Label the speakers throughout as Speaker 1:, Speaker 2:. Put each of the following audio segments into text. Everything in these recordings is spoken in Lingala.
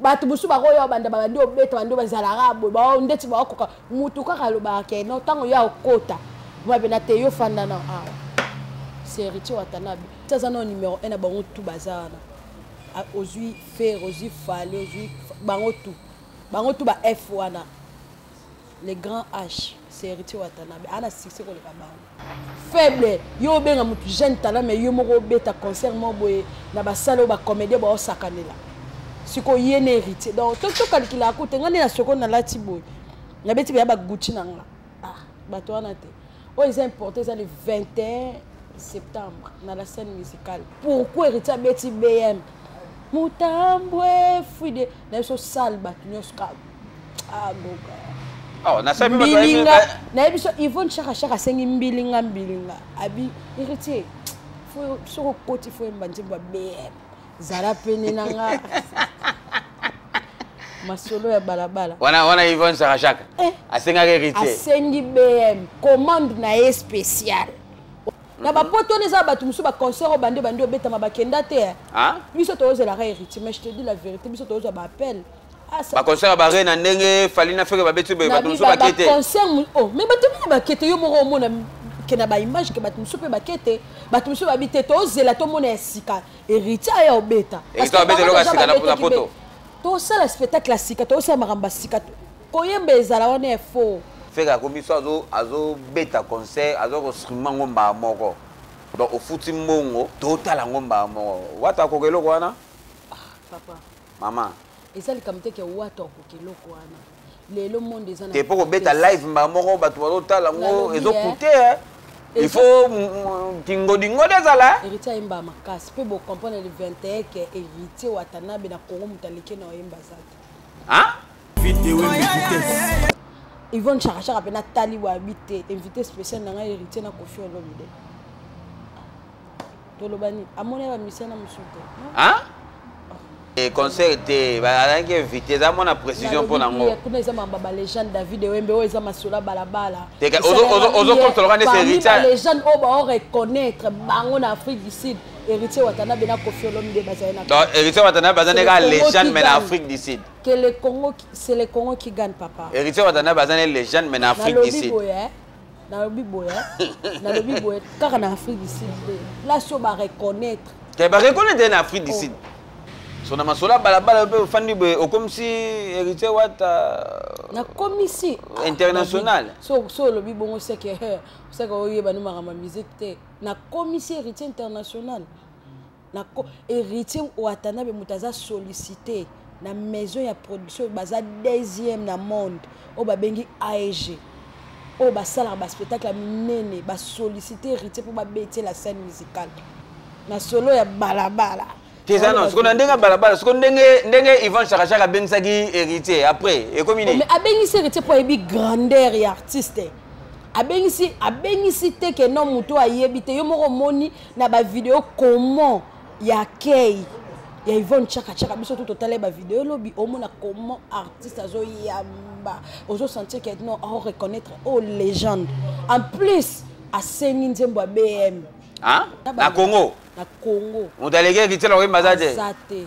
Speaker 1: bato mosusu bakoya obanda babandi obeta bandi bazalaka boye bao ndeti baokoka motu kaka alobaka ke no ntango yo akota mapena te yo fanda na awa ah. seriti watanabe ti aza nao numero 1 na bango tu baza wana ah, ozwi fere ozwi fale ozwi bango tu bango tu ba f wana le grand h seriti watanabe ana succès koleka bango faible yo obenga motu jeune talent mais yo moko obeta concert moko boye na basale oyo bacomédien baosakanela sikoyo ye na héritier donc tokalikilaka kute ngai nde na soko nalati boye nabeti beya baguti na nga ah, bato wana te oyo eza importe eza le 21 septembre na la scène musicale pourquoi héritier abeti bm motambwe fuide na biso sale bato nyonso ka agoka ah,
Speaker 2: ah, mbilinga naye
Speaker 1: biso ivone shaka shaka asengi mbilinga mbilinga abi héritier soki okoti fo yemba nzembo ya bm zala pene na nga masolo ya balabala wana wana ivone shaka
Speaker 2: shaka eh, asengaki héritier asengi bm
Speaker 1: commande na ye spéciale na ba poto wana eza bato mosusu baconcert oyo bande bande obetama bakenda te eh. ah? biso toyozelaka héritier mais je te dis la vérité biso toyozwa baappel ah, baconcert ya
Speaker 2: bare na ndenge fali na feke babeti boye bato mosusu bakete concert oh, mais
Speaker 1: bato mingi bakete yo moko omona ke na baimage ke bato mosusu mpe bakete bato mosusu babi te tozela tomona ya sika héritier aya obeta
Speaker 2: tosala
Speaker 1: spectacle ya sika tozosala makambo ya sika Koyemba ezala wana ya faux. Ferre akomi so azo
Speaker 2: azo beta concert azo ko streamer ngo mbaa moko. Donc ofuti mbongo to tala ngo mbaa moko. Wata ko keloko wana? Ah papa.
Speaker 1: Mama.
Speaker 2: Ezali kamite
Speaker 1: ke wata ko keloko wana. Lelo monde ezana. Te poko beta live
Speaker 2: mbaa moko batu bazo tala ngo ezo coûter eh. hein. il faut kingodingo nde ezala héritier ayemba makasi
Speaker 1: mpe bocomprendre le 21 ke héritier watanabe na congo moto aleki na oyemba aza te Yvonne Chaka Chaka pe na tali wa habité invité spécial na nga héritier na Koffi Olomide. Toloba ni amona ba musiciens na musuka. Hein?
Speaker 2: Eh, concert te bazalaki invité eza mwana précision mpo na ngo kuna eza mamba balégende
Speaker 1: david ewembe oyo eza masolo balabala
Speaker 2: ozokomtoloka nde seritalegende oyo
Speaker 1: baoreconnaitre bango na afrique du sud héritier watanabe na kofi olomide bazali na héritier watanabe baza ndeka
Speaker 2: légende mais na afrique du sud que le Congo
Speaker 1: c'est le Congo qui gagne papa héritier watanabe aza na
Speaker 2: légende mais na Afrique du Sud hein. nalobi
Speaker 1: boye hein. nalobi boye kaka na Afrique du Sud là sur ba reconnaître que ba reconnaître
Speaker 2: na Afrique du oh. Sud so na masolo ya balabala mpe ofandi boye okomisi héritier wata euh, nakomisi
Speaker 1: ah, international
Speaker 2: so olobi
Speaker 1: bongo seke eh, seke oyebani makambo ya musike te nakomisi héritier international na héritier watanabe moto aza sollicité na maison ya production baza deuxième na monde oyo babengi aeg oyo basalaka baspectacle ya minene basollicité héritier mpo babeti la scène musicale na solo ya balabala teza non sikoyo
Speaker 2: na ndenge ya balabala sikoyo ndenge ndenge ivan shakashaka abengisaki héritier après ekomi nini oh, abengisi héritier mpo
Speaker 1: ayebi grandeur ya artiste abengisi abengisi te ke no moto ayebi te yo moko omoni na ba video comment ya kei ya Yvonne Chaka Chaka biso tout totalai ba video lobi omona comment artiste azo yamba ozo sentir que non on reconnaître oh légende en plus asengi nzembo ya BM hein? na
Speaker 2: Congo na Congo moto aleki ekitela koyemba aza te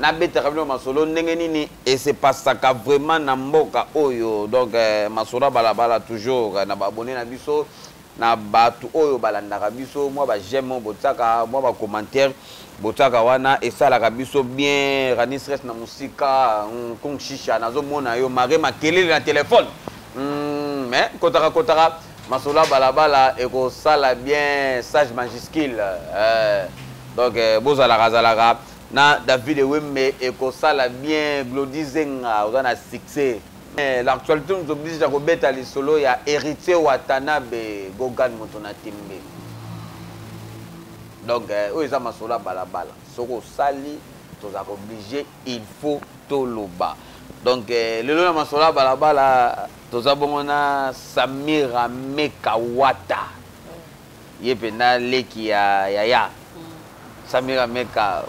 Speaker 2: Na betaka bino masolo ndenge nini et se passaka vraiment na mboka oyo donc eh, masolo ya balabala toujours eh, na ba abonne na biso na bato oyo balandaka biso mwa ba j'aime botiaka mwa ba commentaire botiaka wana esalaka biso bien rani stress na mosika mm, kung shisha nazomona yo mare makelele na telefone mm, mais kotaka kotaka masolo ya balabala ekosala bien sage majuscule eh, donc eh, bozalaka zalaka Na David Ewembe ekosala bien Glody Zenga oza na succès. Eh, l'actualité nous oblige à kobeta lisolo ya Héritier Watanabe Gogan moto na tembe. Donc eh, oyo eza masolo ya balabala. Soko osali toza oblige il faut toloba. Donc eh, lelo na masolo ya balabala toza bongo na Samira Mekawata. ye penda leki ya yaya samira meka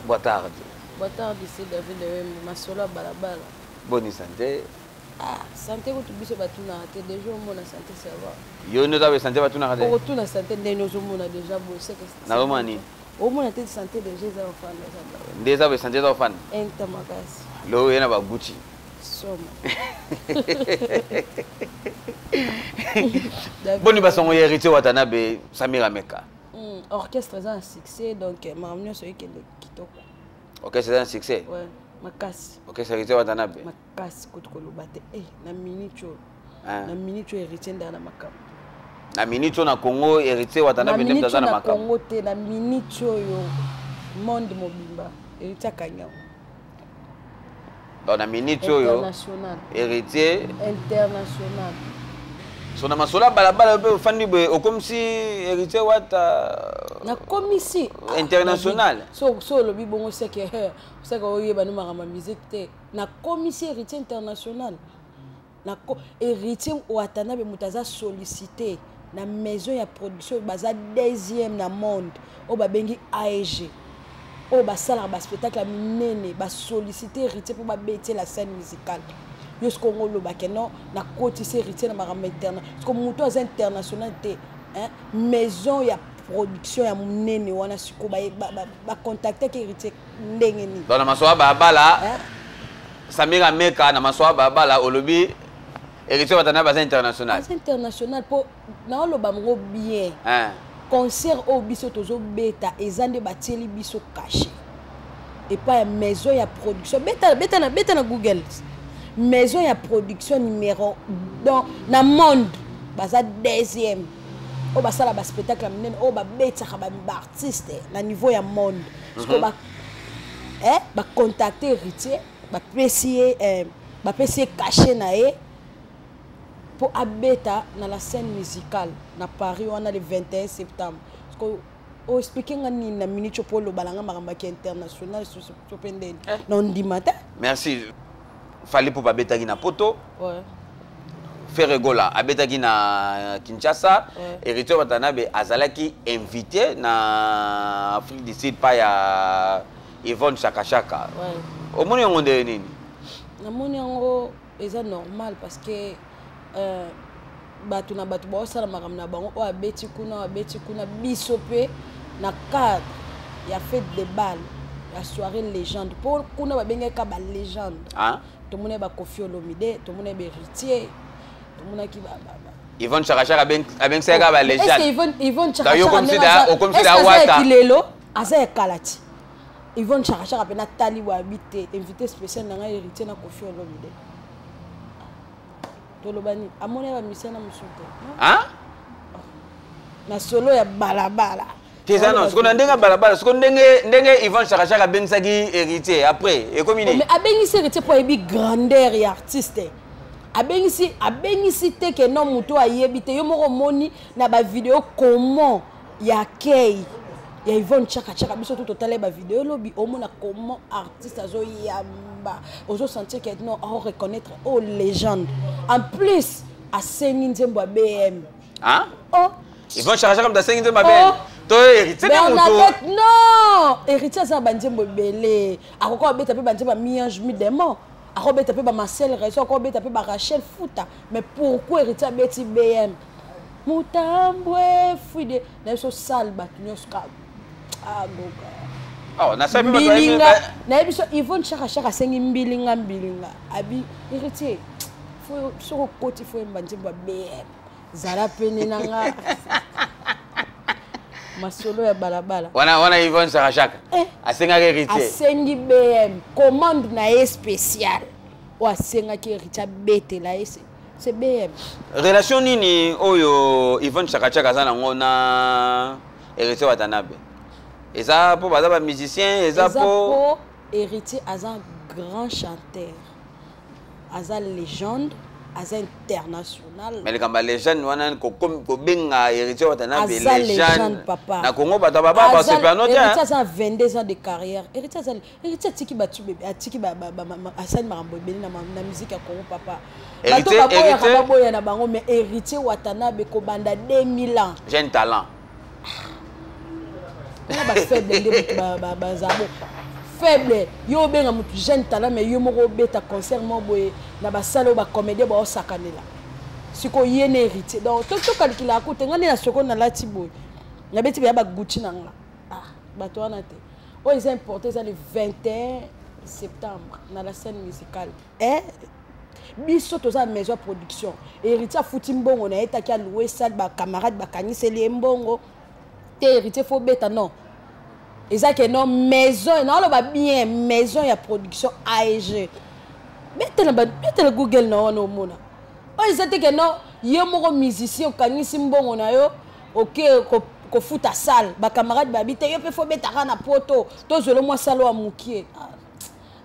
Speaker 2: boa tarde boa tarde
Speaker 1: ici david wembe masolo ya balabala boni sante
Speaker 2: ah,
Speaker 1: sante kutu biso batunaka te deja omona sante savoir yo nde oza sante
Speaker 2: batunaka te okotuna sante ndeni
Speaker 1: ozomona deja boye seke nazomona nini
Speaker 2: omona te
Speaker 1: sante deja eza ofanda nde eza boye sante eza ofanda
Speaker 2: enta makasi
Speaker 1: loo ye na baguti somo
Speaker 2: boni basongo ya héritier watanabe samira meka hmm, orchestre eza
Speaker 1: na succès donc eh, makambo nyonso ekende kitoko orchestre eza
Speaker 2: na succès ouais, makasi
Speaker 1: orchestre héritier watanabe
Speaker 2: makasi kutu koloba
Speaker 1: te e na minute oyo ah. na minute oyo héritier ndaya na makambo na minute
Speaker 2: oyo na congo héritier watanabe nde aza na makambo te na minute
Speaker 1: oyo monde mobimba héritier akangi yango
Speaker 2: donc na minute oyo héritier international so na masolo ya balabala yo mpe ofandi boye okomisi héritier wata euh, nakomisi
Speaker 1: ah, international
Speaker 2: so olobi
Speaker 1: bongo seke seke oyebani makambo ya musique te nakomisi héritier international na héritier watanabe moto aza sollicité na maison ya production baza deuxième na monde oyo babengi aeg oyo basalaka baspectacle ya minene basollicité héritier mpo babeti la scène musicale yo soki ongo olobake non nakotisi héritier na makambo interna soki moto aza international te maison ya production ya monene wana sikoyo bacontactaki ba, ba héritier ndenge nini donc na masoba babala
Speaker 2: eh? samira meka na masoba babala olobi héritier batana baza international baza international mpo
Speaker 1: naoloba yango bien eh. concert oyo biso tozobeta eza nde batieli biso kashe epai ya maison ya production beta, beta, na, beta na google maison ya production numéro donc na monde baza deuxième oyo basala baspectacle ya minene oyo babetaka baartiste na niveau ya monde sikoyo ba eh, bacontacte héritier bapesi ye eh, bapesi ye cachet na ye mpo abeta na la scène musicale na paris wana le 21 septembre sikoyo oexplike nga nini na minute mpo oloba na nga makambo yaki international susu mpe ndeni eh. na ondima te merci
Speaker 2: Fally Ipupa abetaki na Poto. Ouais.
Speaker 1: Ferre
Speaker 2: Gola abetaki na Kinshasa. Ouais. Heritier Watanabe azalaki invité na Afrique du Sud pa ya Yvonne Chaka Chaka. Ouais. Omoni yango
Speaker 1: nde nini?
Speaker 2: Namoni
Speaker 1: yango eza normal parce que euh, bato na bato baosala makambo na bango oyo abeti kuna oyo abeti kuna biso mpe na cadre ya fete de balle ya soirée légende mpo kuna babengaki ka balégende ah? tomonaki
Speaker 2: bakofi
Speaker 1: olomide tomonaki baheritier tomonaki yvonne
Speaker 2: chakachaka abengisaki ka balegendeokomisi
Speaker 1: da
Speaker 2: wata kilelo aza ya
Speaker 1: kala ti yvonne chakachaka mpe natali wayabi te invité spécial na ngai héritier na kofi olomide toloba nini amoni ya bamisana mosusu te na solo ya balabala teza non siko na
Speaker 2: ndenge balabala siko ndenge ndenge ivan shakashaka abengisaki héritier après ekomi nini oh, abengisi héritier
Speaker 1: mpo
Speaker 2: ayebi
Speaker 1: grandeur ya artiste abengisi abengisi te ke no moto ayebi te yo moko omoni na bavideo comment ya kei ya Yvonne Chaka Chaka biso tout total ba vidéo lobi omona comment artiste azo yamba ozo sentir que non on reconnaître oh légende en plus asengi nzembo ya BM ah
Speaker 2: oh
Speaker 1: Yvonne Chaka Chaka
Speaker 2: mtasengi nzembo ya BM oh. to héritier de moto non
Speaker 1: héritier aza banzembo ebele akoki abeta mpe banzembo ya miange mi demon akobeta mpe bamarcel raison akobeta mpe barachel futa mais pourquoi héritier abeti bm mutambwe fuide na biso sale bato nyonso kaka agoka ah, ah,
Speaker 2: mbilinga naye
Speaker 1: biso ivone shakashaka asengi mbilinga mbilinga abi héritier soki okoti fo yemba nzembo ya bm zala pene na nga masolo ya balabala wana wana ivone shakashaka
Speaker 2: eh, asengaki héritier asengi bm
Speaker 1: commande na ye spéciale oyo asengaki héritier abetela ye c'est BM relation nini
Speaker 2: oyo Yvonne Chakachaka aza nango na Heritier Watanabe eza po baza ba musicien eza po Heritier aza
Speaker 1: grand chanteur aza légende aza international mais likambo ya legende
Speaker 2: wana kobenga héritier watanabe legende papa na
Speaker 1: congo bato baba
Speaker 2: basepano te aza 22
Speaker 1: ans de carrière héritier azali Héritier atiki batu bebe atiki ba ba ba asali makambo ebele na na musique ya Congo papa. Bato baboya
Speaker 2: ka baboya na
Speaker 1: bango mais Héritier Watanabe kobanda 2000 ans. J'ai un talent. Na ba faible nde bato ba ba ba zabo. Faible yo obenga mutu jeune talent mais yo moko obeta concert mo boye na ba sala ba comédien ba osakanela. Siko ye na Héritier. Donc to to calcula ko tenga na soko na lati boye. Na beti ba ba Gucci na nga. Ah bato wana te. oyo eza importe eza le 21 septembre na la scène musicale eh? biso toza na maison ya production héritier afuti mbongo na ye taki aloue sale bacamarade bakaniseli ye mbongo te héritier fo beta non eza ke non maison naoloba bien maison ya production aeg betela google na wana omona oyo eza te ke non ye moko musicien okanisi mbongo na yo ok kofuta sale bacamarade babi te yo mpe fo betaka na poto tozwelo mwa salo ya mokie ah,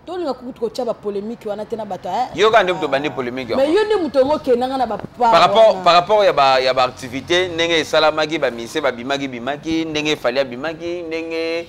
Speaker 1: tolinga kutu kotya bapolémike wana te na bato eh? yo kaka nde moto obandi
Speaker 2: polémike mais yo nde moto yango
Speaker 1: okendanga na bapar rapport
Speaker 2: ya baactivité ndenge esalamaki bamisie babimaki bimaki ndenge efali abimaki ndenge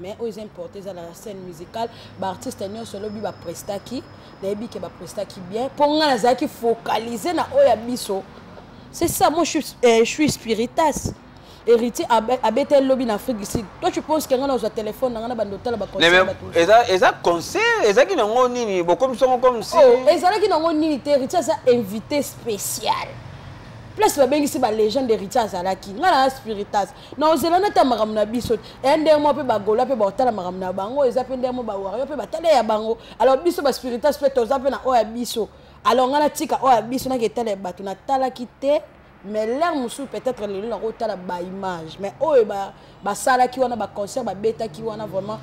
Speaker 1: mais oyo eza importe eza na scène musicale baartiste nyonso lobi baprestaki nayebi ke baprestaki bien mpo ngai nazalaki focalise na oyo ya biso c'est ça moi je suis, euh, je suis spiritas héritier abeta lobi na afrique du sud toi tu penses kenga nazwa téléphone nanga na bando otala baeza conseil
Speaker 2: ezalaki nango nini bokomisi yango comme si oh, ezalaki nango
Speaker 1: nini te héritier aza invité spécial place babengisi balégende héritier azalaki ngai na spiritas na ozela na ta makambo na biso eya ndenge moko mpe bagola mpe baotala makambo na bango eza mpe ndenge moko bawario mpe batala ya bango alors biso baspiritas mpe toza mpe na oyo ya biso alors ngai natika oyo ya biso naki etala ya bato natalaki te mais lere mosusu peut-être lelo nakotala baimage mais oyo basalaki wana baconcert babetaki wana vraiment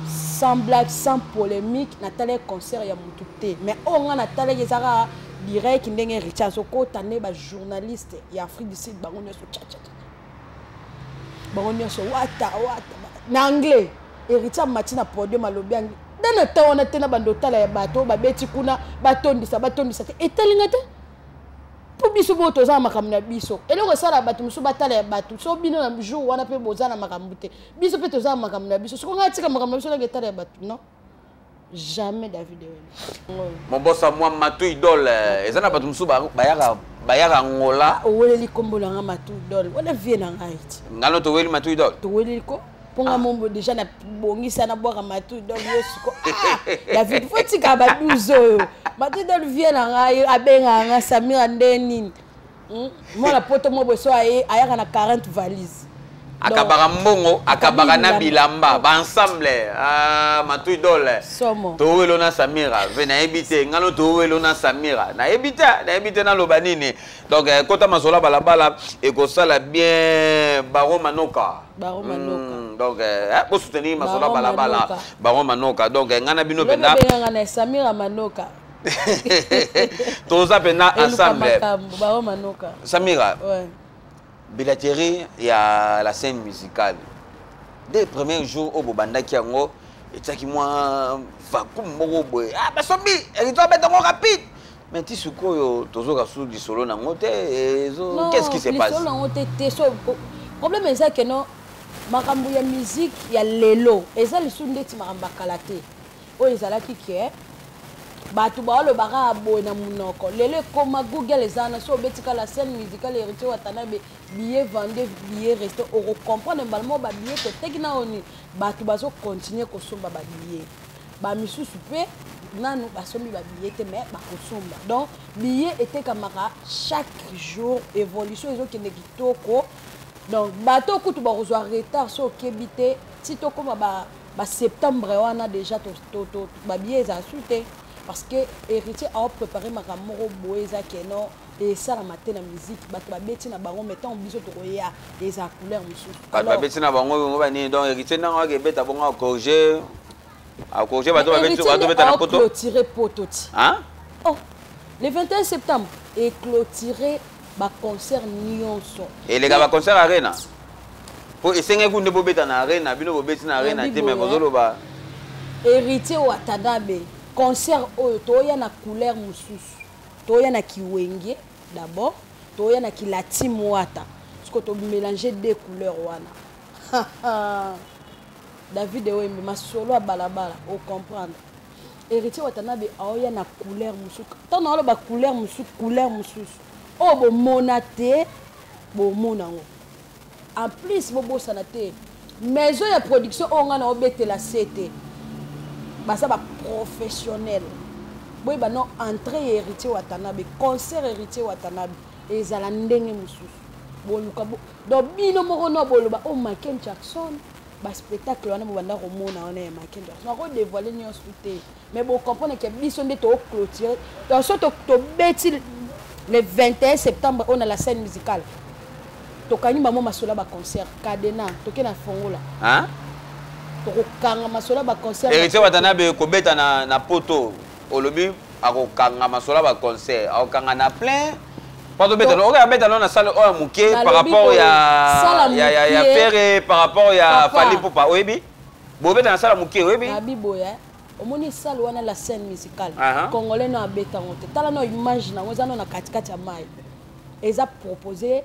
Speaker 1: sans blague sans polémique natalaki concert ya motu te mais oyo ngai natalaki ezaka direct ndenge richard azokota nde bajournaliste ya afrique du sud bango nyonso bango nyonso wata wata na anglais héritier amati na podium alobi anglais nde na ntan wana te na bando otala ya bato oyo babeti kuna batondisa batondisa te etali nga te mpo biso mpo toza na makambo na biso eloko esala bato mosusu batala ya bato so bino na jour wana mpe boza na makambo te biso mpe toza na makambo na biso soko ngai atika makambo na biso nanga etala ya bato non jamais david ewela
Speaker 2: mobosa mwa matu idole eh, eza na bato mosusu bayaka bayaka ngola ah, oweleli nkombo na nga
Speaker 1: matu idole wana vie na ngai ti ngano toweli matu idole
Speaker 2: toweleli ko mpo
Speaker 1: nga ah. mombo deja nabongisa nabwaka matu idole yo siko ah, david fo tika ba 12 oyo matu idole vie na ngai abengaka nga samira nde nini Hmm? mwana poto mwa boso aye ayaka na 40 valise akabaka
Speaker 2: mbongo akabaka na bilamba baensemble ah, matui dole towelo na samira ve nayebi te ngano towelo na samira nayebi te nayebi te naloba nini donc eh, kota masola balabala ekosala bien baro manoka baro hmm, manoka mm, donc eh, eh bosoutenir masola balabala baro manoka donc eh, ngai na bino mpenza samira
Speaker 1: manoka toza
Speaker 2: mpena ensemble
Speaker 1: samira
Speaker 2: bilaterie ya la scène musicale de premier jour oyo bobandaki yango etyaki mwa vacume moko boye ah, basombi elito abeta yango rapide mais ti sikoyo tozoka su lisolo nango te qu'est-ce qui se passe nango te te so
Speaker 1: problème eza keno makambo ya musique ya lelo eza lisusu ndeti makambo ya kala te oyo ezalaki ke bato baolobaka boye na monoko lelo ekoma google eza wana so obetika la scène musicale héritier watanabe billet vende billet reste okocomprendre mbala moko babillet toteki na oni bato bazokontinue kosomba babillet bamisusu mpe nanu basombi babillet te mais bakosomba donc billet etekamaka chaque jour évolution ezokende kitoko donc bato kutu bakozwa retard so okebi te ti tokóma ba ba septembre wana déjà babiye ezala su te parce que héritier aoprépare makambo moko boye eza keno esalama te na musique bato babeti na bango mai ntango biso tokoya eza couleur mosusu bato babeti na bango
Speaker 2: bongo banini donc héritier ndanga waka ebeta bongo acorge acorge bato babeta na poto clôture poto ti
Speaker 1: oh le 21 septembre eclôture baconcert nyonso eleka baconcert
Speaker 2: arena po esengaki kunde bobeta na arena bino bobeti na arena te mais bozoloba héritier
Speaker 1: watanabe concert oyo toya na couleur mosusu toya na kiwenge d'abord toya na kilatim wata siko tomélange deux couleurs wana david ewembe masolo ya balabala ocomprendre Héritier Watanabe aoya na couleur mosusu. Tant na ba couleur mosusu, couleur mosusu. Oh bo monate, bo monango. En plus bo bosana te. Maison ya production oyo nga na obetela sete. Basa ba professionnel. Boye ba non entrée ya Héritier Watanabe, concert Héritier Watanabe ezala ndenge mosusu. Boluka bo. Donc bino moko no boloba oh Michael Jackson. baspectacle wana bobanda komona wana ya makendo nako dévoile nyonso te mais bocomprendre ke biso nde toclotire toso tobeti le 21 septembre oyo na la scène musicale tokangi bango masola baconcert cadena toke na fongola
Speaker 2: tokokanga
Speaker 1: masola baconcert héritier watanabe kobeta
Speaker 2: na, na poto olobi akokanga masola ba concert akokanga na plein patobeta no okoya beta no na salle oyo moke par rapport ya ya ya ya ferre par rapport ya fali pupa oyebi bobeta na salle moke oyebi abi boya
Speaker 1: omoni salle wana la scène musicale congolais no abeta ngo te tala no image nango eza no na katikati ya mai eza proposer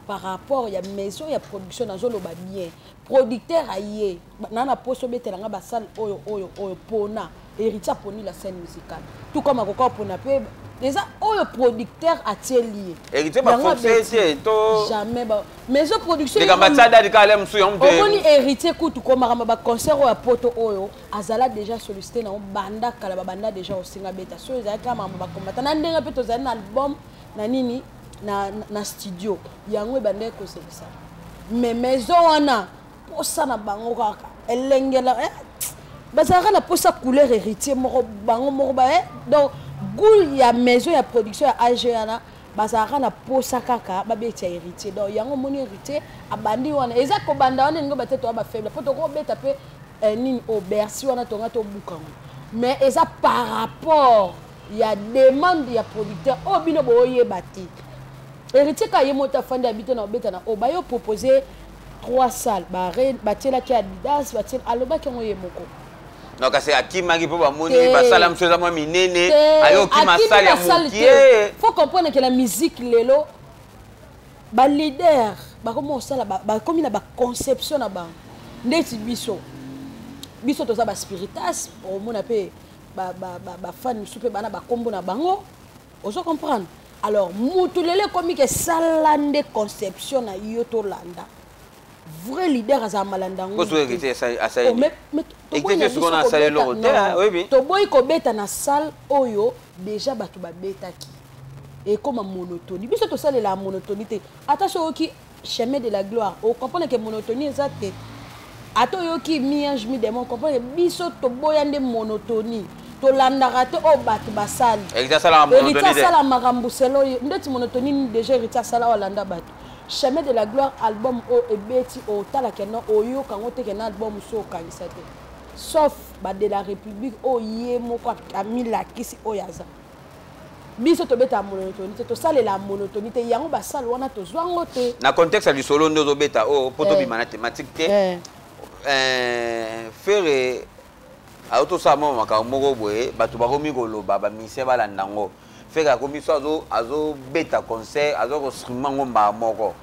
Speaker 1: par rapport ya maison ya production nazoloba bien producteur aye naa na poso obetela nga basale oyo oyo oyo pona héritier aponi la scène musicale tout comme akoka opona mpe eza oyo producteur atieli ye héritier bafoncee
Speaker 2: te to jamais ba maison
Speaker 1: productionomoni
Speaker 2: héritier kutu
Speaker 1: komakamba baconcert oyo ya poto oyo azala déjà sollicité nango banda kala babanda déjà osinga beta so ezalaki kaka makambo bakombata na ndenge mpe tozali na album na nini na, na studio yango ebandaki kosekisa me maison wana posa na bango kaka elengela eh? bazalaka na posa couleur héritier moko bango moko ba eh? donc goule ya maison ya production ya ag wana bazalaka na posa kaka babeti ya héritier donc yango omoni héritier abandi wana eza kobanda wana elingi batete wa bafaible mpo tokobeta mpe eh, nini o oh, bercy wana tonga tobukango mais eza par rapport ya demande ya producteur oyo oh, bino boyeba te héritier ka ye moto afandi abito na obeta na oyo bayo propose trois salles batielaki adidas batie alobaki yango ye moko no kasi
Speaker 2: akimaki mpo bamoni basala mosusu eza mwa minene ayoki masale ya mokie faut comprendre ke na
Speaker 1: musique lelo baleader bakomi kosala bakomi na baconception na bango ndeti biso biso toza baspiritas omona mpe ba ba ba ba fan mususu pe bana ba kombo na bango ozo comprendre alors mutu lelo ekomi ke sala nde conception na yo tolanda vrai leader azala malanda
Speaker 2: ngotoboyi kobeta
Speaker 1: na salle oyo deja bato babetaki ekoma monotonie biso tosalelaka monotonie te ata soki chemin de la gloire o comprendre que monotonie eza te ata oyoki mi ange mi demon comprendre biso toboya nde monotonie tolandaka te oyo bato basali héritier
Speaker 2: asala makambo
Speaker 1: selo ye ndeti monotonie nini déjà héritier asala oyo alanda bato chemin de la gloire album oyo ebeti otala kena oyoka yango te kena album so okangisa te sauf ba de la république oyo ye moko amilakisi oyo aza biso tobetaka monotoni te tosalela monotoni te yango basale wana tozwa yango te na contexte ya lisolo nde
Speaker 2: ozobeta oyo oh, mpo eh. tobima na thématique te eh. Eh, fere auti osala mwa makambo moko boye bato bakomi koloba bamisie balanda yango fere akomi so azobeta concert aza kostrima yango mbaa moko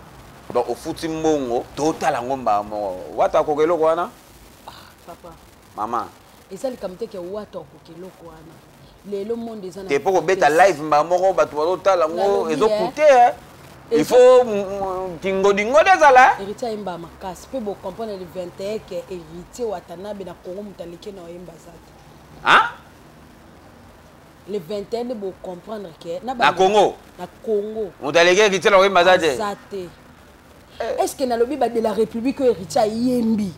Speaker 2: donc ofuti mbongo totala yango mbaa moko wata akoka eloko wana ah,
Speaker 1: mama
Speaker 2: eza likambo te
Speaker 1: ke wata akoka eloko wana lelo monde eza te mpo kobeta live
Speaker 2: mbaa moko bato bazotala yango ezokute eh. il faut kingodingodi ezala eh. héritier ayemba makasi
Speaker 1: mpe bocomprendre le 21 ke héritier watanabe na congo moto aleki na oyemba aza te le 21 nde bocomprendre ke na congo na
Speaker 2: congo moto aleki héritier na oyemba aza te
Speaker 1: eh. est ce que nalobi ba de la république oyo héritier ayembi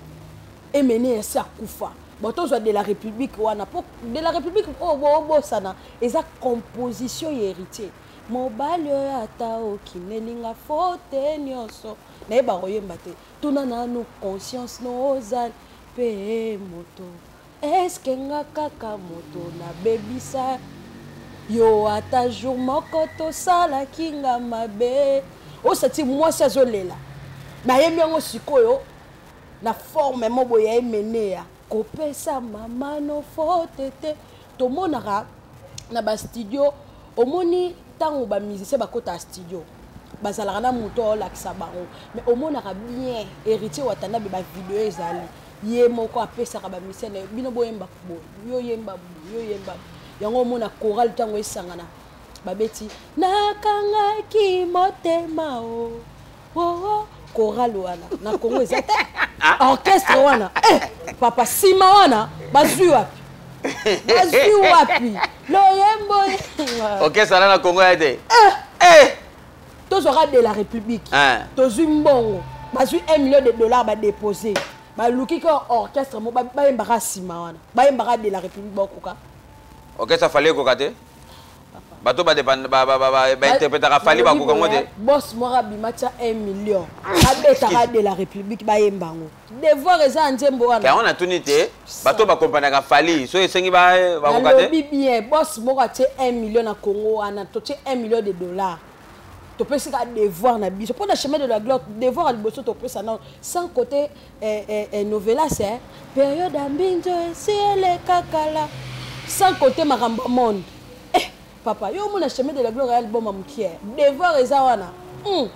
Speaker 1: emene ya se akufa bon tozwa de la république wana mpo de la république oyo oh, boobosana oh, eza composition ya héritier mobali oyo ata okinelinga fote nyonso naye bakoyemba te tuna nanu conscience nozali mpe moto Eske nga kaka moto na bebisa yo ata jour moko tosalaki nga mabe osati mwasi azolela nayembi yango sikoyo na forme mo boye ya emeneya kopesa mama no fote te tomonaka na bastudio omoni ntango bamusicien bakotaka studio bazalaka na moto aolakisa bango mais omonaka bien héritier watanabe bavideo ezali ye moko apesaka bamisio na ye bino boyemba boye yo yemba boye yo yemba yango omona chorale ntango esangana babeti nakangaki motema o oh, oh, oh. chorale wana na kongo eza te ah. orchestre wana eh, papa nsima wana bazwi wapi bazwi wapi loyembo okesana na
Speaker 2: kongo ya te eh. Eh. tozwaka
Speaker 1: de la république ah. tozwi mbongo bazwi 1 million de dollars badépose baluki ka orchestre mo bayembaka nsima wana bayembaka de la république bakoka orchestre afali
Speaker 2: ekoka te bato bainterpretaka fali bakoka ngo te bos moko abima
Speaker 1: tya 1 million babetaka de la république bayemba ngo devoir eza ya nzembo wana yango natuni te
Speaker 2: bato bakompanaka fali soki esengi bakoka te alobi bien bos moko
Speaker 1: atie 1 million na congo wana totie 1 million de dollars topesi ka devoir na biso mpo na chemin de la gloire devoir ya liboso topesa nao sans côté eh, eh, eh, novelas eh, période ya mbinzo esi elekakala sans côté makambo ya monde Papa, yo omona chemin de la gloire ya album mukie. Devoir eza wana. Mm.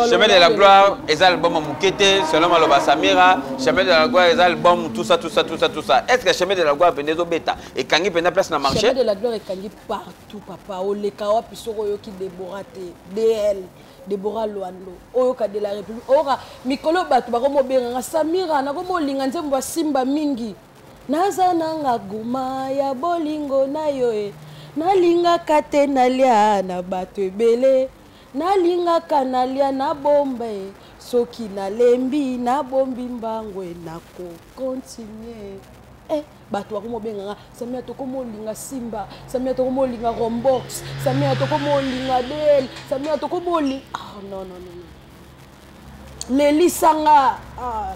Speaker 2: Chemin de la gloire eza album mukie te, selon maloba Samira, chemin de la gloire eza album tout ça tout ça tout ça tout ça. Est-ce que chemin de la gloire pende zo beta et kangi penda place na marché? Chemin de la gloire est kangi
Speaker 1: partout papa. Oleka wapi soko yo ki Deborah te. DL. debora lwando oyoka de la république oyoka mikolo bato bakomobenga nga samira nakomolinga nzembo asimba mingi naza nanga guma ya bolingo na yo e nalingaka te nalia na bato ebele nalingaka nalia na bomba e soki nalembi nabombi mbango e nako continue eh, bato bakoma obenga nga samia tokoma olinga simba samia tokoma olinga rombox samia tokoma olinga bel samia tokoma olinga ah, non, non, non. lelisa nga ah,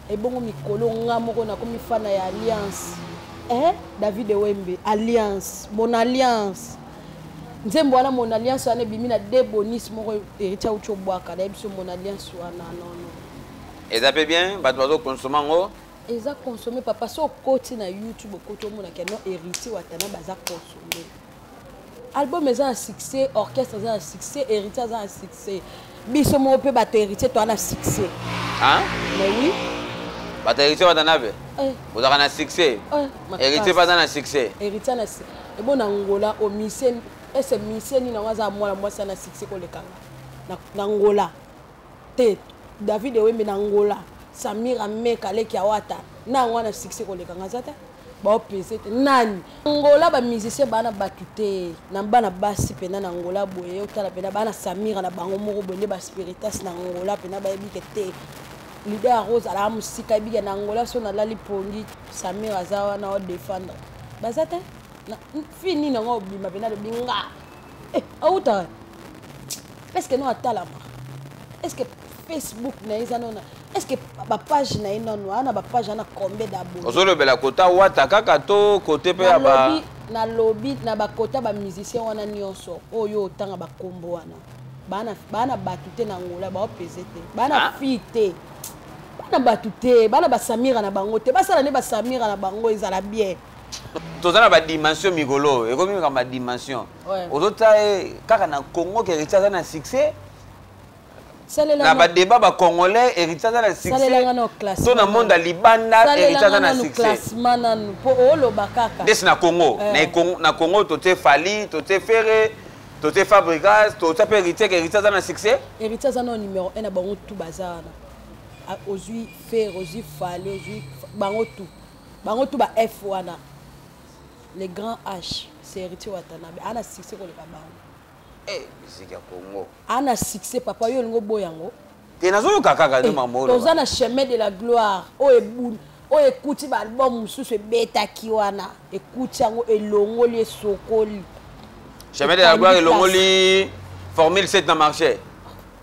Speaker 1: ebongo mikolo nga moko nakomi fana ya alliance eh, david ewembe alliance mon alliance nzembo wana mon alliance wana ebimi na de bonis moko heritier auti obwaka nayebi so mon alliance wana nono eza mpe
Speaker 2: bien bato bazokonsoma yango eza consomme
Speaker 1: papa so okoti na youtube okoti omonaka no héritier watana baza consomme album eza na succès orchestre eza na succès héritier aza na succès biso moko mpe bato héritier toa na succès mais oui bato héritier
Speaker 2: bata na be eh. bozalaka na succès eh, héritier baza na succès héritier na
Speaker 1: ebo na ngola o mise ese mise nini yango aza mwana mwasi ana succès kolekanga na ngola te david ewembe na ngola samira meka leki awata na yango wana succès koleka nga aza te baopese te nani ngola bamusicien baa na bato te na bana basi mpena na ngola boye otala mpena baa na samira na bango moko boye nde baspiritas na ngola mpena bayebike te lider ya rose alaa mosika yebike na ngola so nalali pongi samira aza wana odefendre baza te fi nini yango obima mpena lobi nga eh, awuta eske no atalama eske facebook na ye eza nona eske bapage na ye nono ana bapage ana combien dabord ozolobela kota
Speaker 2: wata kaka to kote mpe ya ba nalobi
Speaker 1: na bakota bamusicien wana nyonso oyo oh, otanga bakombo wana baa na bato te na ngola baopese te baa na ah. fille te bana bato te bana basamira na bango te basala nde basamira na bango ezala bien toza na
Speaker 2: badimension mikolo oyo ekomi meka badimension ozotya ye kaka na congo ke héritier aza na succès na badeba bacongolais héritier aza na succès to na monde ya libanda héritier aza na
Speaker 1: succèsdesi na congo
Speaker 2: eh. na congo totye fali totye ferre totye fabrigas totya mpe héritier ke héritier aza na succès héritier aza na numéro
Speaker 1: 1 na bango tu baza wana ah, ozwi ferre ozwi fali ozwi bango tout bango tu ba f wana le grand h c'est héritier watanabe ana succès koleka bango eh, musique ya congo
Speaker 2: ana succès
Speaker 1: papa yo olingi oboya yango
Speaker 2: te
Speaker 1: nazoyoka kaka
Speaker 2: nde eh,
Speaker 1: mamo toza na
Speaker 2: chemin
Speaker 1: de la
Speaker 2: gloire
Speaker 1: oyo oh,
Speaker 2: ebuni
Speaker 1: oyo oh, ekuti baalbum mosusu ebetaki wana ekuti yango elongoli esokoli chemin
Speaker 2: de la gloire elongoli formule 7 na marché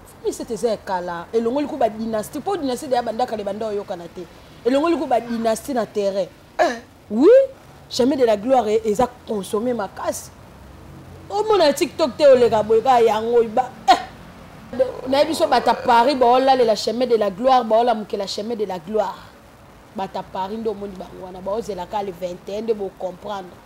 Speaker 2: formule 7
Speaker 1: eza ya kala elongoli ko badynastie mpo dynastie deya bandakala ebanda oyokana te elongoli ko ba dynastie na terrain eh. oui jamais de la gloire e, eza consomme makasi omona tiktok te oleka boye kaka yango ba eh. naye biso bata paris baolalela chemin de la gloire baolamukela chemin de la gloire bata paris nde omoni bango wana baozelaka le 21 nde bocomprendre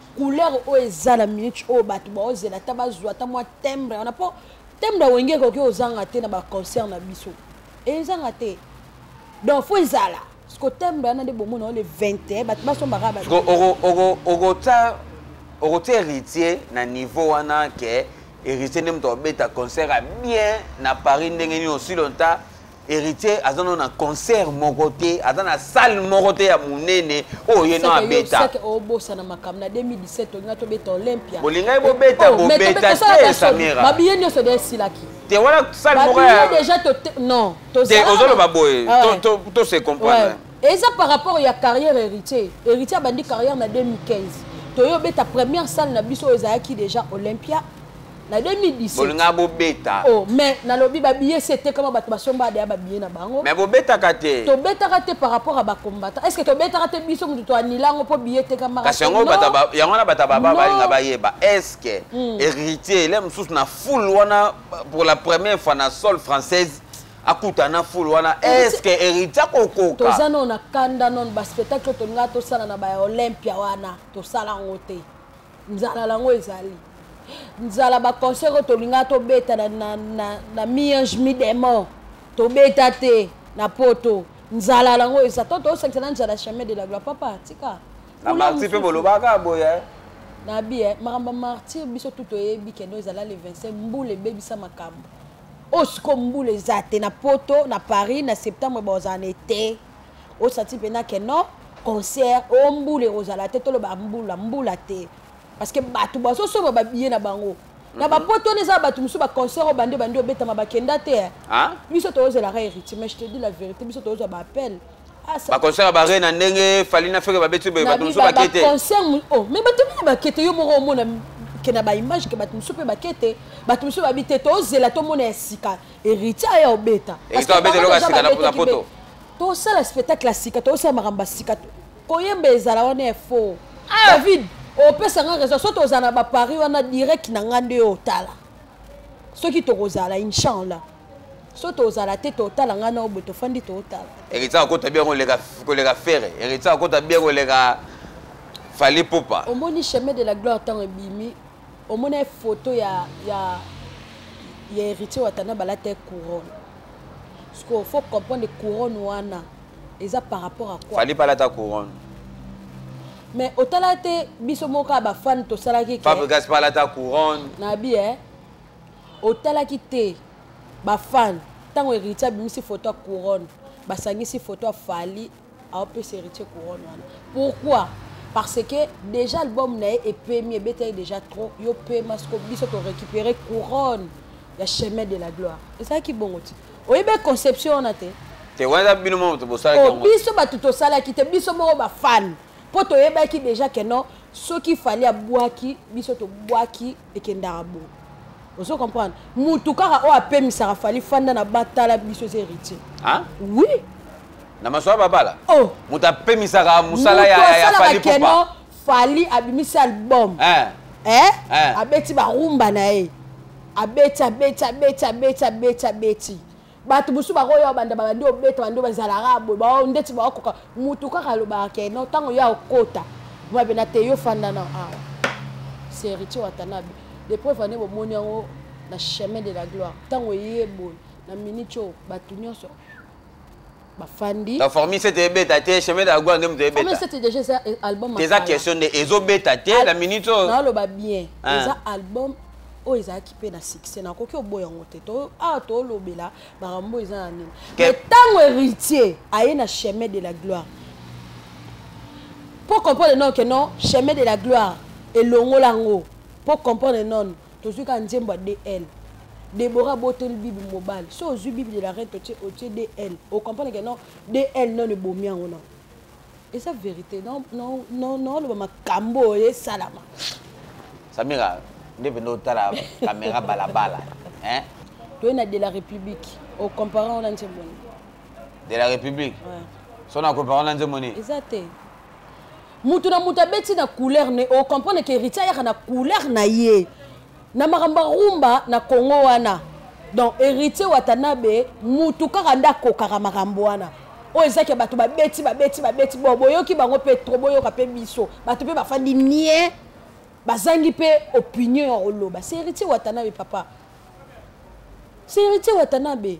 Speaker 1: couleur oyo eza na minute oyo bato baozela ata bazwa ata mwa tembre wana mpo tembre ya wenge ekoki ozanga te na baconcert na biso ezanga te donc fo ezala siko tembre wana nde bomona o le 21 bato basombaka baokotya
Speaker 2: okotya héritier na niveau wana ke héritier nde moto abeta concert ya bien na paris ndenge nini osilonta héritier aza no na concert moko te aza na salle moko te ya monene oyo ye no abeta obosana
Speaker 1: makambo na 2017 olinga tobeta olympia bolingai bobeta
Speaker 2: oh, bobeta te samira mabiye nyonso de esilaki
Speaker 1: te wana salle
Speaker 2: moko ya déjà to non
Speaker 1: to ozoloba boye ah
Speaker 2: to to to se comprendre eza par rapport
Speaker 1: ya carrière héritier héritier abandi carrière na 2015 toyo obeta première salle na biso oyo ezalaki déjà olympia na 2017 bolinga bobeta
Speaker 2: oh mais nalobi
Speaker 1: ba billets c'est etekama bato basomba deya ba billets na bango mais bobetaka te
Speaker 2: tobetaka te par
Speaker 1: rapport à ba combattants est ce que tobetaka te biso moto toanila yango mpo billet etekamaka kasi yango yango
Speaker 2: wana bato baba balinga bayeba est ce que hmm. héritier ele mosusu na foule wana pour la première fois na sol française akutana fulu wana estce héritier akokoka toza nano na kanda
Speaker 1: nano baspectacle tolinga tosala na baolympia wana tosala yango te nzala lango ezali nzala baconcert oyo tolingaka tobeta na, na, na, na miange mi demon tobeta te na poto nzala lango eza to tosakisa na nzala chemin de la gloire papa tika na marti mpe
Speaker 2: bolobaka boye eh? na bi eh,
Speaker 1: makambo ya martyr biso tu toyebi kendo ezala le 25 mbula ebebisa makambo oyo sikoyo mbula eza te na poto na paris na septembre bakozala na ete osati mpena ke non concert o oh, mbula ekozala te toloba mbula mbula te parce que bato bazosomba babiye na bango na mhm. bapoto wana eza bato mosusu baconcert oyo bande bande obetama bakenda te eh. ah? biso
Speaker 2: toyozelaka
Speaker 1: héritier mais je te dis la vérité biso toyozwa baappel ah, baconcert ya
Speaker 2: bare na ndenge fali na feke babeti boye bato mosusu bake te oh, mais bato
Speaker 1: mine bake te yo moko omona ke na baimage ke bato mosusu mpe bake te bato mosusu babi te tozela tomona ya sika héritier aya obeta
Speaker 2: tosala
Speaker 1: spectacle ya sika toyosala makambo ya sika koyemba ezala wana ya faux ah! david opesa nga raison soki tozala na baparis wana direct na ngai nde otala soki tokozala inchallah so tozala te totala ngai na oboye tofandi totala eritsa akota bien
Speaker 2: koleka fere eritsa akota bien koleka fali popa omoni chemin de la
Speaker 1: gloire ntango ebimi omona photo ya ya ya héritier watana balata couronne sikoyo faut comprendre couronne wana eza par rapport à quoi fali palata couronne mais otala te biso moko ya bafane tosalaki fabrigas palata couronne
Speaker 2: nabi e
Speaker 1: otalaki te bafane ntango héritier abimisi photo ya couronne basangisi photo ya fali aopesa héritier couronne wana pourquoi parce que déjà album na ye epemi ebetaki déjà trop yo pema soko biso torécupere couronne ya chemin de la gloire ezalaki bongo ti oyebi conception wana te te wana eza bino moko
Speaker 2: bosalaki oh, biso bato tosalaki
Speaker 1: te biso moko bafane mpo toyebaki déjà ke non soki fali abwaki biso tobwaki ekendaka bo ozo comprendre mutu kaka oyo apemisaka fali fanda na batala biso eza héritier ah? oui na masolo
Speaker 2: babala oh. moto
Speaker 1: apemisaka
Speaker 2: mosala ya fali popa fali abimisi
Speaker 1: album eh. Eh? Eh. abeti barumba na ye abeti abeti abeti abeti abeti abeti bato mosusu bakoya obanda babandi obeta bandi bazalaka boye bao ndeti baokoka motu kaka alobaka ke no ntango yo akota mabe na te yo fanda na awa seriti watanabe lepreuve wane bomoni yango na chemin de la gloire ntango eye boye na miniti oyo bato nyonso bafandi la formule sete
Speaker 2: ebeta te chemin de la gloire nde moto ebeta sete déjà eza eh,
Speaker 1: album eza question nde
Speaker 2: ezobeta te na minute oyo naoloba bien
Speaker 1: ah. eza album oyo ezalaki mpe na succès nakoki oboya yango te awa ah, tolobela makambo oyo eza na nini mais ntango héritier aye na chemin de la gloire mpo comprendre non ke non chemin de la gloire elongola yango mpo comprendre non tozwi kaka nzembo ya dl debora abotoli bibi mobali so ozwi bibi de la rete otie otie dl ocomprendre ke non dl non ebomi yango non eza vérité naoloba makambo oyo esalama
Speaker 2: samira nde mpenza otala kamera balabala toye na de la
Speaker 1: république ocompare yango na nzembo nini de la
Speaker 2: république so na
Speaker 1: compare yango na
Speaker 2: nzembo nini eza te
Speaker 1: mutu na mutu abeti na couleur ne o comprendre ke héritier ayaka na couleur na ye na makambo ya rumba na congo wana donc héritier watanabe mutu kaka nde akokaka makambo wana oyo ezaki ya bato babeti babeti babeti bo boyoki bango mpe tro boyoka mpe biso bato mpe bafandi nie bazangi mpe opinion ya koloba se héritier watanabe papa se héritier watanabe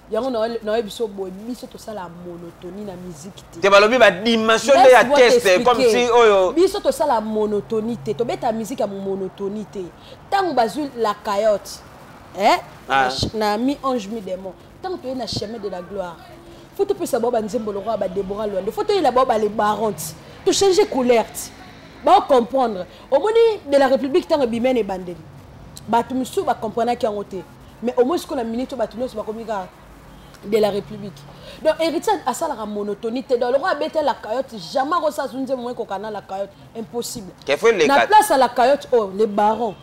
Speaker 2: yango
Speaker 1: naoye biso boye biso tosala monotonie na miziki te te balobi badimension
Speaker 2: nde ya teste comme si oyo biso tosala
Speaker 1: monotonie te tobeta miziki ya monotonie te ntango bazwi la cayote eh? ah. na mi ange mi démon ntango toye na chemin de la gloire fo topesa bao banzembo lokola badebora lwande fo toyela bao balebaron ti tochange couleur ti baocomprendre omoni de la république ntango ebimene ebandeli bato mosusu bacomprenaki yango te mais au moins sikoyo na minute bato nyonso bakomi kaka de la république donc héritier asalaka monotonie te donc lokola abeta la cayotte jamais akosa azwi nzembo moko ekoka na la cayotte impossible na place ya la cayotte oyo oh, le baron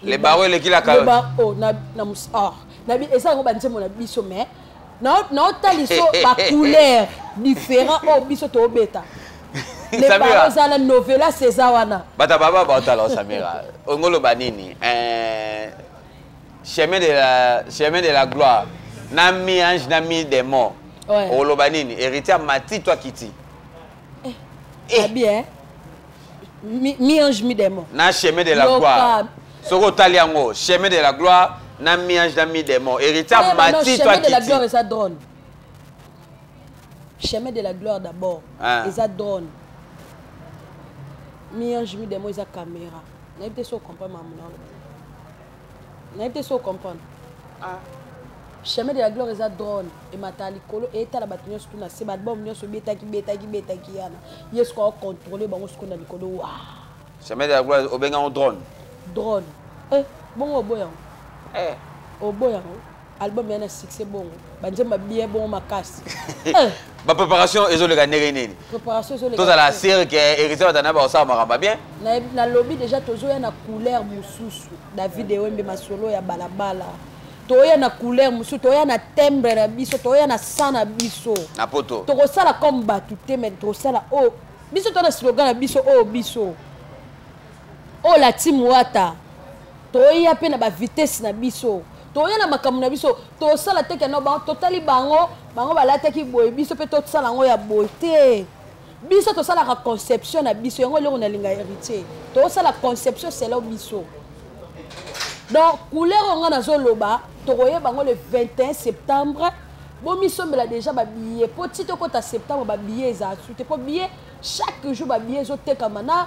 Speaker 1: le baron
Speaker 2: eleki la cayotte
Speaker 1: oh, na ah, eza yango banzembo na biso mais naotaliso bacouleur différent oyo oh, biso toobeta le baron eza na novelas eza wana bata baba baotala
Speaker 2: osamira ongoloba nini eh, chemin de la, chemin de la gloire na mi ange na mi démon ouais. oloba nini héritier amati to akiti eh, eh. abi eh.
Speaker 1: mi, mi ange mi démon na chemin de la Loka.
Speaker 2: gloire soki otali yango chemin de la gloire na mi ange na mi démon héritier amati to akiti chemin
Speaker 1: de la gloire d'abord ah. eza drone mi ange mi démon eza caméra nayebi te so comprendre makambo na oloba nayebi te so comprendre ah. chemin de la gloire eza drone ematala likolo etala bato nyonso tuna se baalbum nyonso betaki betaki betaki yana ye soki aocontrole bango sikoyo na likolo wa chemin de
Speaker 2: la gloire obengango drone drone
Speaker 1: eh, bongo oboyango eh. oboyango album ya na succès bongo banzemba bien bongo makasi eh.
Speaker 2: bapreparation ezoleka ndenge nini tozala
Speaker 1: sire ke
Speaker 2: héritier batana bakosala makambo bien nalobi déjà
Speaker 1: tozoya na couleur mosusu david ewembe masolo ya balabala toya na couleur mosusu toya na tembre na biso toya na sang na biso na poto tokosala
Speaker 2: comme bato
Speaker 1: te mai tokosala oyo oh, biso to na slogan na biso oyo oh, biso Oh la team Wata. Toya pe na ba vitesse na biso. Toya na makambo na biso. Tosala teke na bango. Totali bango. Bango balataki boye. Biso pe tosala yango ya boye te. Biso tosalaka conception na biso. Yango eloko nalinga héritier. Tosala conception selon biso. Donc couleur oyo ngai nazoloba tokoyeba yango le 21 septembre bomisombela déjà babillet mpo ti tokota septembre babillet ezala su te mpo billet chaque jour babillet ezotekama na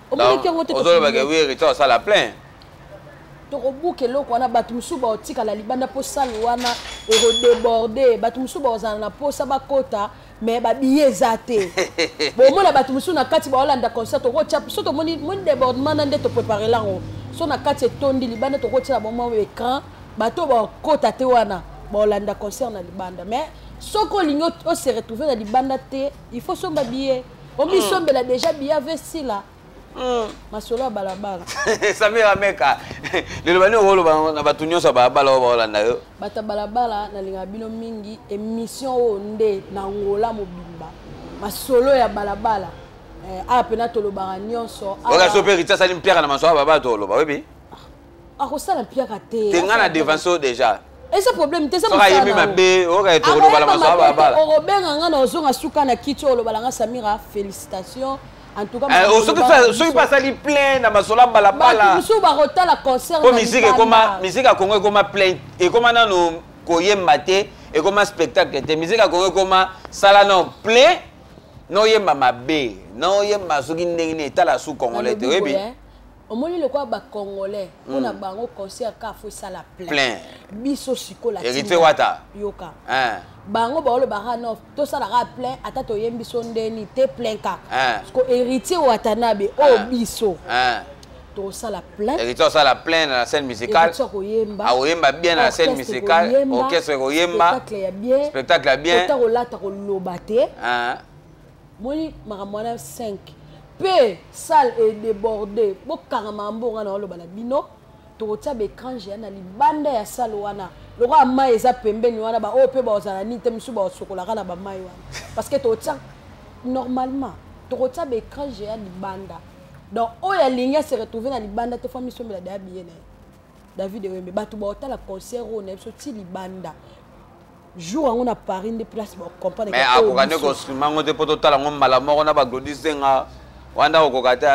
Speaker 2: omonaki
Speaker 1: yango te ozoloba ke wiri to asala
Speaker 2: plein
Speaker 1: tokobuka eloko wana bato mosusu baotikala libanda mpo sale wana ekodeborde bato mosusu bakozala na mposa bakota me babiye eza te bomona bato mosusu na kati baolanda concert tokotya so tomoni moni debordement na nde toprepare lango so na kati etondi libanda tokotyela bomwa écran bato bakota te wana baolanda concert na libanda mais soki olingi ose retrouve na libanda te il faut somba biye omisombela deja biya ve sila hmm. masolo ya balabala samir ameka
Speaker 2: liloba nini okoloba na bato nyonso ya balabala oyo baolanda yo bato ya balabala
Speaker 1: nalingaka bino mingi émission oyo nde na ngola mobimba masolo ya balabala eh, awa mpena tolobaka nyonso oyo aso mpe rita asali
Speaker 2: mpiaka na masolo ya balabala toloba oyebi akosala
Speaker 1: mpiaka te te nga na devanso déjà
Speaker 2: eza problème te eza
Speaker 1: mosalaayebi mabe
Speaker 2: oyoka tokolobala masaababala okobenga nga na ozonga
Speaker 1: suka na kiti olobala nga samira félicitation eh, soki mpe asali
Speaker 2: plein na masolo ya balabalamosusu bakotala
Speaker 1: concertpo miziki ekoma
Speaker 2: miziki ya kongo ekoma plein ekoma nano koyemba te ekoma spectacle te miziki ya kongo ekoma sala no plein noyemba mabe noyemba soki ndenge nini etala su congolais te oyebi omoni lokola
Speaker 1: ba congolais mpo na bango concert ka fo esala plein biso sikola héritier wata
Speaker 2: yoka
Speaker 1: bango baolobaka no tosalaka plein ata toyembi biso ndeni te plein kaka siko héritier watanabe oyo biso tosala plein héritier osala plein na
Speaker 2: scène musicale akoyemba bien na scène musicale orchestre ekoyemba spectacle ya bien spectacle ya bien kolata koloba
Speaker 1: te moni makambo wana 5 mpe salle edeborde bokanga mambo nga naoloba na bino tokotia baecrange ya na libanda ya salle wana lokola mai eza pembeni wana baoyo mpe baozala nini te mosusu baosokolaka na bamai wana parce que tokotia normalement tokotia baecrange ya libanda donc oyo alingi ase retrouve na libanda te fo misombela daya biye na ye david ewembe bato baotala concert oyo na biso ti libanda jour yango na paris nde place bacomprendre mais akoka nde kosima
Speaker 2: yango te mpo totala yango mbala moko na baglodi senga wana okoka te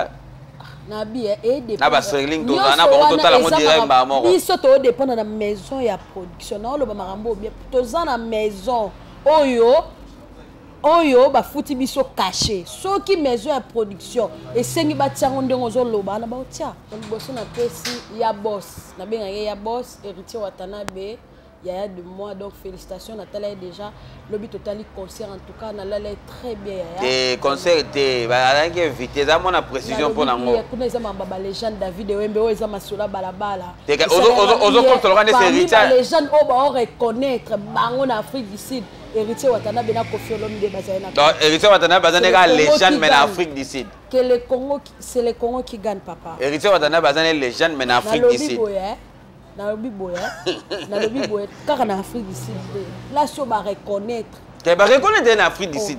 Speaker 2: na
Speaker 1: biye eh, eh, na baserling tozala na
Speaker 2: bango totala yango direct mbala moko biso toodependre na
Speaker 1: maison ya production naoloba makambo obie toza na maison oyo oyo bafuti biso kashe soki maison ya production esengi batia yango ndenge ozoloba na baotia liboso napesi ya bos nabengaki ya bos héritier watanabe yaya de moi donc félicitation natala ye déjà lobi totali concert en tout cas nalala ye très bien yaya te concert
Speaker 2: te azalaki invité eza mwana précision mpo na ngo kuna eza mamba balégende
Speaker 1: david ewembe oyo eza masola balabala
Speaker 2: ozokomtoloka nde serita balégende oyo bao
Speaker 1: reconnaître bango na afrique du sud héritier watanabe na kofi olomide bazali na donc héritier watanabe baza
Speaker 2: nde kaka légende mais na afrique du sud que le congo
Speaker 1: c'est le congo qui gagne papa héritier watanabe baza nde
Speaker 2: légende mais na afrique du sud nalobi
Speaker 1: boye hein. nalobi boye kaka na afrique du sud te la sio bareconnaitre te eh, bareconnaitre
Speaker 2: na afrique du oh. sud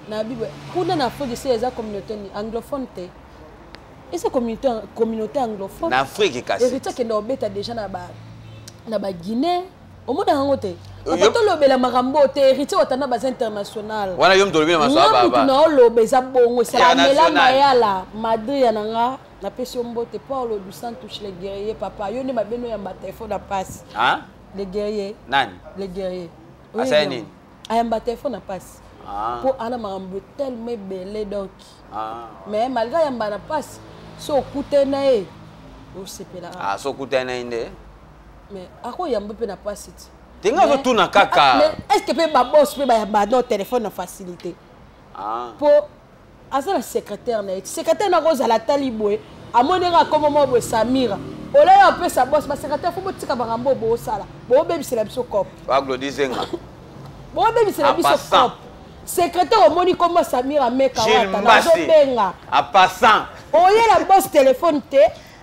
Speaker 1: nalobi boye kuna na afrique du sud eza communauté ni anglophone te eza communauté, communauté anglophone na afrique kasi héritier
Speaker 2: akenda obeta déjà
Speaker 1: na ba na baguinée omona yango te tolobela makambo te héritier watana baza international wana yo mtolobela masoamutu
Speaker 2: na oloba eza
Speaker 1: bongo esala mela mayala madria na nga napesi yo mbote paulo du santush le guerrier papa yo nde mabeno ya mbata efo na pasi le guerrier nani le guerrier asali nini
Speaker 2: ayamba te efo
Speaker 1: na pasi mpo ah. ana makambo telema ebele donc ah. mais malgré ayamba na pasi so okute na ye osepela ah, so okute na ye nde
Speaker 2: mais
Speaker 1: akoyamba mpe na pasi ti ndenge azotuna
Speaker 2: kaka est ce que mpe babos
Speaker 1: mpe bayamba no telefone na facilité mpo aza na secrétaire na ye ti secrétaire na kozala atali boye amoni nga akoma mwa boye samira olai apesa bos basecrétaire fo botika bangambo oyo boosala boobebisela biso cop baglodizenga boobebisela biso cop secrétaire omoni kombo samira meka wata nazobenga apassant
Speaker 2: oyela bos
Speaker 1: telefone te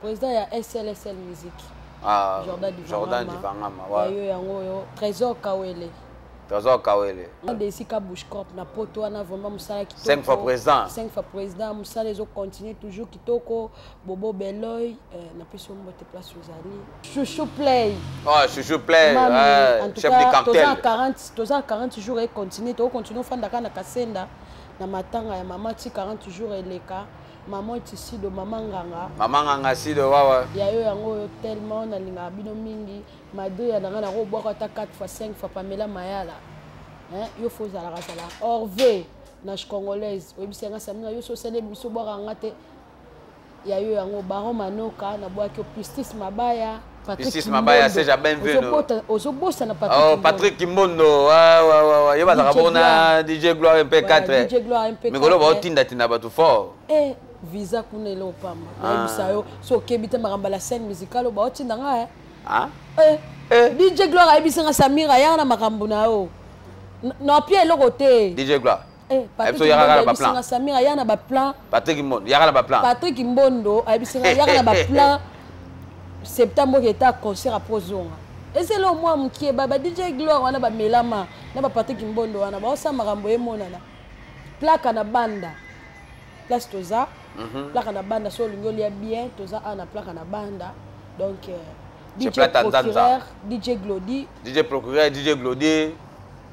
Speaker 2: Président ya
Speaker 1: SLSL musique. Ah, Jordan Divangama.
Speaker 2: Jordan
Speaker 1: Divangama, ouais. Yo yango yo Trésor
Speaker 2: Kawele.
Speaker 1: toza
Speaker 2: kawele de esika bushcorp
Speaker 1: na poto wana vraiment mosala kitoko 5 fois président 5
Speaker 2: fois président
Speaker 1: mosala ezo continue toujours kitoko bobo beloy euh, napesi yo mbote place ozali chouchou play oh, chouchou play
Speaker 2: euh, chef de cartel toza 40 jours
Speaker 1: econtinue tokocontinue ofandaka na kasenda na matanga ya mama ti 40 jours eleka Maman Tisido, Maman Nganga. Maman Nganga Sido, wawa.
Speaker 2: Ya yo yango yo
Speaker 1: tellement na linga bino mingi. Mado ya nanga na ko bwaka ta 4 fois 5 fois Pamela Mayala. Hein, yo faut zala kasala. Orve, na congolaise. Oyebi senga samina yo so sele biso bwaka ngate. Ya yo yango Baron Manoka na bwaki Pistis Mabaya. Isis Mabaya,
Speaker 2: Serge Abenvenu. Ozobosana Patrick
Speaker 1: Kimbondo. Oh, Patrick Kimbondo.
Speaker 2: Ouais, ouais, ouais, ouais. Yeba zaka bona DJ Gloire MP4. Voilà, DJ Gloire MP4. Mais golo
Speaker 1: ba tinda tinda
Speaker 2: batu fort. Eh, visa
Speaker 1: kuna ile opamba. Ah. Yeba sayo. So kebita maramba la scène musicale ba tinda nga eh. Ah. Eh. eh. DJ Gloire ayebisa nga Samira ya na makambo na yo. Na pia eloko te. DJ Gloire. Eh,
Speaker 2: Patrick
Speaker 1: Mbondo Samir aya na ba plan. Patrick Mbondo yaka na ba
Speaker 2: plan. Patrick Mbondo
Speaker 1: abisinga yaka na ba plan. Septembre qui était concert à Prozonga. Et c'est là moi qui est baba DJ Gloire wana ba melama na ba Patrick Mbondo wana ba osa makambo e monana. Plaka na banda. Place toza. Mhm. Plaka na banda so lingo lia bien toza ana plaka na banda. Donc euh, DJ procureur, DJ Glody. DJ procureur, DJ
Speaker 2: Glody.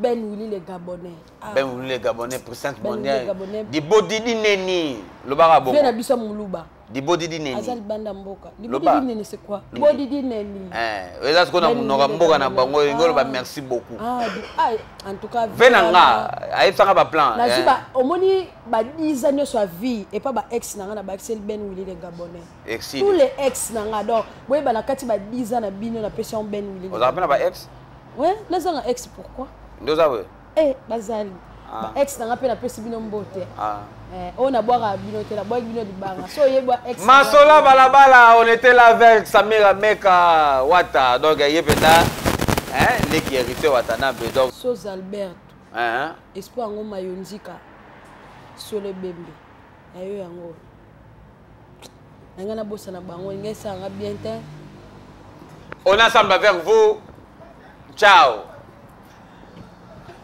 Speaker 1: Ben Willy le Gabonais. Ah. Ben Willy le
Speaker 2: Gabonais, président ben mondial. Dibodi di neni, lobaka bongo. Fena biso muluba.
Speaker 1: Dibodi di neni. Azali
Speaker 2: banda mboka.
Speaker 1: Dibodi di neni c'est quoi? Dibodi di neni. Eh, eza siko na ben
Speaker 2: munoka mboka na bango, ngolo ba ah. merci beaucoup. Ah, ah, en
Speaker 1: tout cas. Vena nga,
Speaker 2: ayebisaka ba plan. Na ziba, eh. omoni
Speaker 1: ba 10 ans nyoso ya vie et pas ba ex na nga na ba ex Ben Willy le Gabonais. Exil. Tous les ex na nga donc, boyeba na kati ba 10 ans na bino na pesi on Ben Willy. Oza pena ba ex?
Speaker 2: Oui, nazanga
Speaker 1: ex pourquoi Nde oza boye
Speaker 2: Eh, bazali
Speaker 1: ah. ba ex nanga mpe napesi bino mbote ah. eh, oyo nabwaka bino te nabwaki bino libanga so oyebwa ex masola balabala
Speaker 2: on était là avec samira meka wata donc ye mpenza leki hérité watanabe donc sos albert
Speaker 1: espo yango mayonzika solo ebembe na yo yango nanga na bosa na bango ngai sanga bien te on a
Speaker 2: samba vers vous ciao